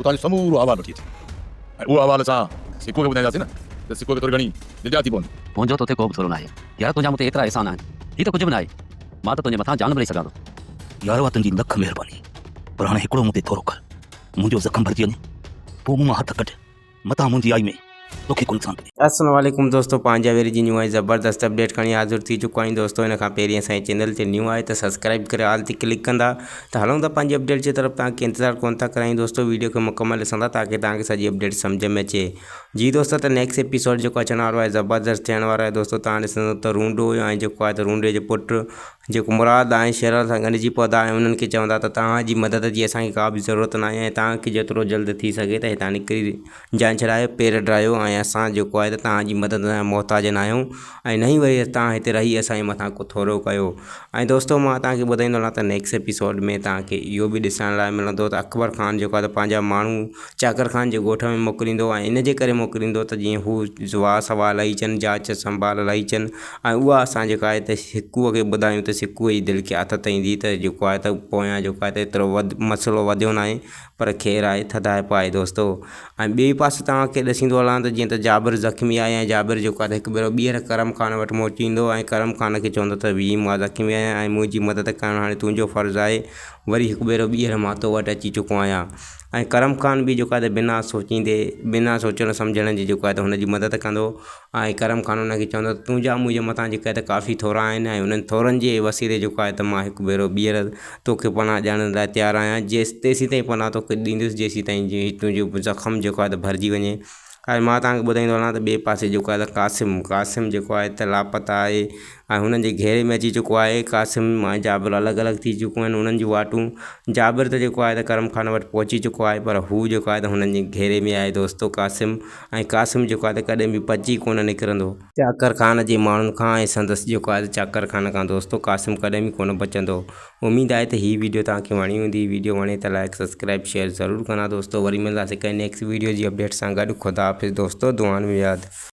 اتان جو سمورو احوال وٺي اچي ۽ اهو احوال اسان سکو کي ٻڌائينداسين نه ته سکو کي ٿوري گهڻي الجا ٿي پوندي. منهنجو توتي ڪو به ٿورو ناهي يار، تنهنجا مون تي ايترا احسان آهن، هي ته ڪجهه به ناهي، مان ته تنهنجي مٿان جان به ڏئي سگهان ٿو. يار اها تنهنجي لک مهرباني، پر هاڻي هڪڙو مون تي ٿورو ڪر، منهنجو زخم ڀرجي وڃي، پوء مون مان هٿ ڪڍ. متان منهنجي آئي ۾ توکي ڪو نقصان ڪري. السلام عليڪم دوستو پنهنجا ويري جي نيون ۽ زبردست اپڊيٽ کڻي حاضر ٿي چڪو آهيان دوستو ان کان پهرين اسان جي چينل تي نيون آهي ته سبسڪرائب ڪري آل تي ڪلڪ ڪندا ته هلون ٿا پنهنجي اپڊيٽ جي طرف توهان کي انتظار ڪونه ٿا ڪرايون دوستو ويڊيو کي مڪمل ڏسندا تاڪي توهان کي سڄي اپڊيٽ سمجھ ۾ اچي جي دوستو ته نيڪسٽ ايپيسوڊ جيڪو اچڻ وارو آهي زبردست ٿيڻ وارو آهي دوستو توهان ڏسندو ته رونڊو ۽ جيڪو آهي ته رونڊي جو پٽ جيڪو مراد آهي شهرن سان ڳنڍجي پودا آهن انهن کي چوندا ته توهان جي مدد جي اسانکي ڪا به ضرورت ناهي ۽ توهان کي جيترو جلد ٿي سگهي ته هتان نڪري جان ڇڏايو پير ڊاهيو ۽ اسان جيڪو آهي ته توهان جي مدد جا محتاج ناهيون ۽ نه ئي وري توهان هتي رهي اسان جي مٿان ڪو ٿورو ڪيو ۽ دوستو مان توهان کي ٻڌائيندو هلان ته نيڪس ايپيسوڊ ۾ توهان کي اهو به ڏسڻ لاء ملندو ته اڪبر خان جيڪو آهي ته پنهنجا ماڻهو چاڪر خان جي ڳوٺ ۾ موڪليندو ۽ ان جي ڪري موڪليندو ته جيئن هو جواب سوال لهي اچن جاچ سنڀال لهي اچن ۽ اها اسان جيڪا آهي ته سڪوء کي ٻڌايون ته سڪوء جي دل کي آٿت ايندي ته جيڪو آهي ته پويان جيڪو آهي ته ايترو وڌ مسئلو وڌيو ناهي پر خير آهي ٿڌائپ آهي دوستو ۽ ٻئي پاسي توهان کي ڏسيندو هلان ته جيئن ته جابر زخمي آهي ۽ جابر جيڪو آهي ته هڪ ڀيرو ٻيهر ڪرم خان وٽ موٽي ايندو ۽ ڪرم خان کي چوندو ته ويهه مان زخمي آهيان ۽ منهنجي مدد ڪرڻ هاڻي تنهنجو فرض آهي وري هڪ ڀيرو ٻيهر مان تو وٽ اچي چڪو آهيان ۽ ڪرم خان به جيڪو آهي ته بنا سوچيندي بنا سوچڻ سمجهڻ جي جيڪو آهي ته هن جي مدد ڪندو آء ڪرم خان انهن کي چوندس ته تنهنجا منهنجي مٿان جيڪا هي ته ڪافي ٿورا آهن ۽ انهن ٿورن جي وسيلي جيڪو آهي ته مان هڪ ڀيرو ٻيهر توکي پناهه ڏيڻ لاء تيار آهيان جيس تيسين تائين پناهه توکي ڏيندس جيسين تائين جي تنهنجو زخم جيڪو آهي ته ڀرجي وڃي ۽ مان تهانکي ٻڌائيندو هلان ته ٻئي پاسي جيڪو آهي ته قاسم قاسم جيڪو آهي ته لاپتا آهي هاڻي هنن جي گهيري ۾ اچي چڪو آهي. قاسم ۽ جابر الڳ الڳ ٿي چڪيون آهن. انهن جون واٽون جابر ته جيڪو آهي ته ڪرم خان وٽ پهچي چڪو آهي پر هو جيڪو آهي ته هنن جي گهيري ۾ آهي دوستو قاسم ۽ قاسم جيڪو آهي ته ڪڏهن به بچي ڪونه نڪرندو. چاڪر خان جي ماڻهن کان ۽ سندس جيڪو آهي ته چاڪر خان کان دوستو قاسم ڪڏهن به ڪونه بچندو. اميد آهي ته هي ويڊيو توهان کي وڻي هوندي. ويڊيو وڻي ته لائيڪ سبسڪرائيب شيئر ضرور ڪندا دوستو. وري ملنداسين ڪنهن نيڪسٽ ويڊيو جي اپڊيٽ سان گڏ. خدا حافظ دوستو دعائن ۾ ياد.